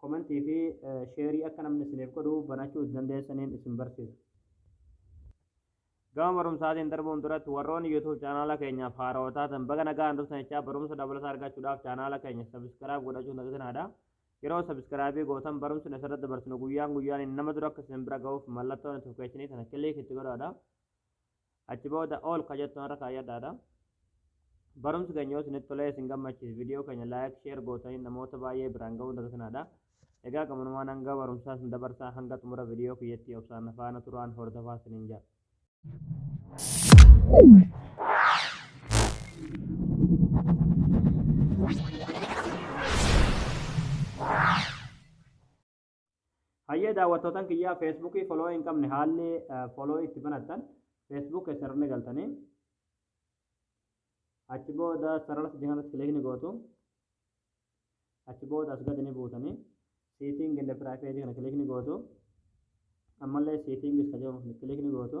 Comment fi share akka namni isiniif godhu banachuu dandeessaniin isin barsiisa. Gama barumsaatiin darbuun duratti warroonni YouTube chaanaala keenyaaf haarawa taatan baga nagaan dhuftan jechaa barumsa dabalataa argachuudhaaf chaanaala keenya subscribe godhachuun dagatinaa Yeroo subscribe gootan barumsi nu asirratti dabarsinu guyyaan guyyaan nama dura akka isin bira ga'uuf mallattoon notification kana click itti godhaadha. Achi booda all ka jettu har'a kaayyadhaadha. Barumsi keenya yoo isinitti tolee isin gammachiise viidiyoo keenya laayik sheer gootanii namoota baay'ee biraan ga'uu dagatinadha. Egaa gamanumaan hanga barumsaa isin dabarsaa hanga xumura viidiyoo kiyyatti obsaan faana turaan hordofaa isiniin jedha. Hayyee daawwattootan kiyyaa feesbuukii foloo hin qabne haalli foloo itti banattan feesbuuk keessa irra galtanii achi booda sarara sadii kanarratti kilik ni gootu achi booda as gadi ni buutanii siiting inda piraayiveetii kana kilik ni gootu ammallee siitingis ka jedhamu kilik ni gootu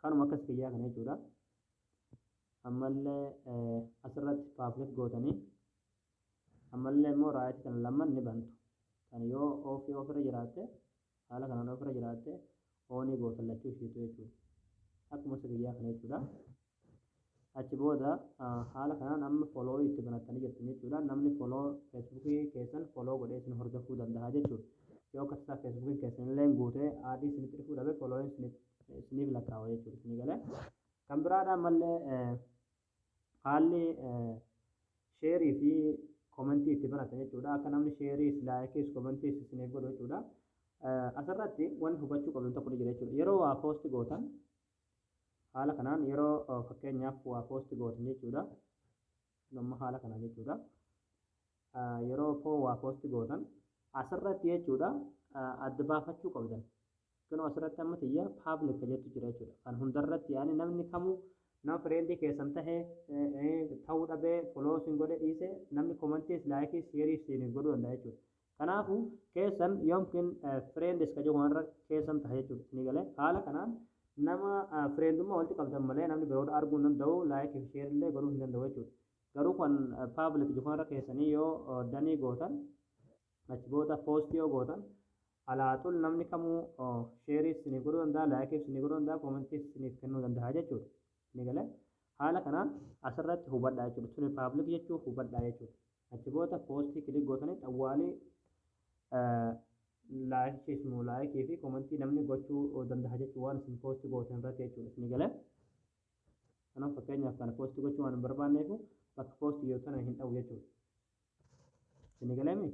Kanuma akkas kiyyaa kana jechuudha. Ammallee asirratti paablik gootanii ammallee immoo raayit kana lamaan ni bantu. Kan yoo oofii ofirra jiraatte haala kanaan ofirra jiraatte oonii gootan lachuu ishiitu jechuudha. Akkuma isa kiyyaa kana jechuudha. Achi booda haala kanaan amma follow itti banattanii jirtan jechuudha. Namni follow Facebook keessan follow godhee isin hordofuu danda'a jechuudha. Yoo akka tasaa Facebook keessan illee guutee aadii isinitti dhufuu dhabe follow isiniif lakkaa'u jechuudha isinii galee. Kan biraadha ammallee haalli sheerii fi komentii itti banatan jechuudha. Akka namni sheeriis laayikiis komentiis isiniif godhu jechuudha. Asirratti wanti hubachuu qabdan tokko ni jira jechuudha. Yeroo waa poosti gootan Haala kanaan yeroo fakkeenyaaf waa post gootan jechuudha. Kun amma haala kanaan jechuudha. Yeroo poo waa post gootan asirratti jechuudha adda baafachuu qabdan. Kunoo asirratti amma tiyya public jettu jira jechuudha. Kan hundarratti yaani namni kamuu nama friendii keessan tahe ta'uu dhabee follow sin godhe dhiise namni commentiis laayikiis sheeriis siin godhuu danda'a jechuudha. Kanaafu keessan yomkin friends ka jedhu kanarra keessan taha jechuudha isinii galee haala kanaan nama friendummaa walitti qabdan malee namni biroodha arguu hin danda'u like fi share illee godhuu hin danda'u jechuudha garuu kan public jedhu kanarra keessanii yoo danii gootan achi booda post yoo gootan alaaxul namni kamuu share isiniif godhuu danda'a like isiniif godhuu danda'a comment isiniif kennuu danda'a jechuudha isinii galee haala kanaan asirratti hubadhaa jechuudha tuni public jechuu hubadhaa jechuudha Achi booda poostii kilik gootanii xawwaalii laayik ismu laayikii fi komentii namni gochuu danda'a jechuun waan isin poosti gootan irratti jechuun isin galee. Kanaaf fakkeenyaaf kana poosti gochuu waan hin barbaanneef bakka poosti jiru tana hin dhabu jechuudha. Isin galeemi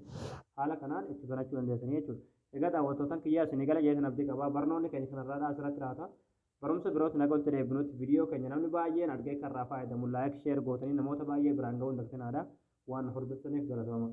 haala kanaan itti banachuu dandeessanii jechuudha. Egaa daawwattootan kiyyaa isin gala jeetan abdii qabaa barnoonni keenya kanarraadhaa asirratti laata. Barumsa birootti naga walitti deebinutti video keenya namni baay'een argee akka irraa faayadamu like share gootanii namoota baay'ee biraan ga'uun dagtinaadha. Waan nu hordoftaniif galatooma.